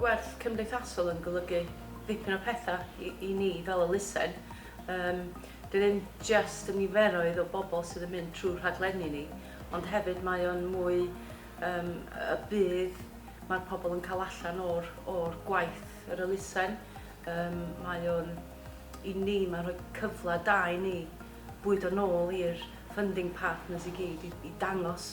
Gwerth cymdeithasol yn golygu dipyn o pethau i, i ni fel elusen. Um, dwi ddim just y niferoedd o bobl sydd yn mynd trwy rhaglenni ni, ond hefyd mae o'n mwy um, y bydd mae'r pobl yn cael allan o'r, or gwaith yr elusen. Um, mae o'n, i ni, mae'n rhoi cyfle da i ni bwyd o'n ôl i'r funding partners i gyd i, i dangos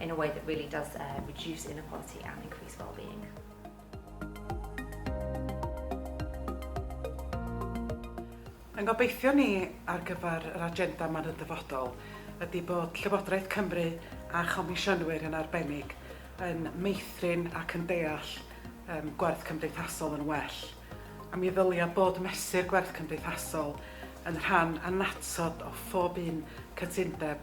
in a way that really does uh, reduce inequality and increase well-being. Yn gobeithio ni ar gyfer yr agenda ma'n y dyfodol ydy bod Llywodraeth Cymru a chomisiynwyr yn arbennig yn meithrin ac yn deall um, gwerth cymdeithasol yn well. A mi ddylia bod mesur gwerth cymdeithasol yn rhan annatod o phob un cytundeb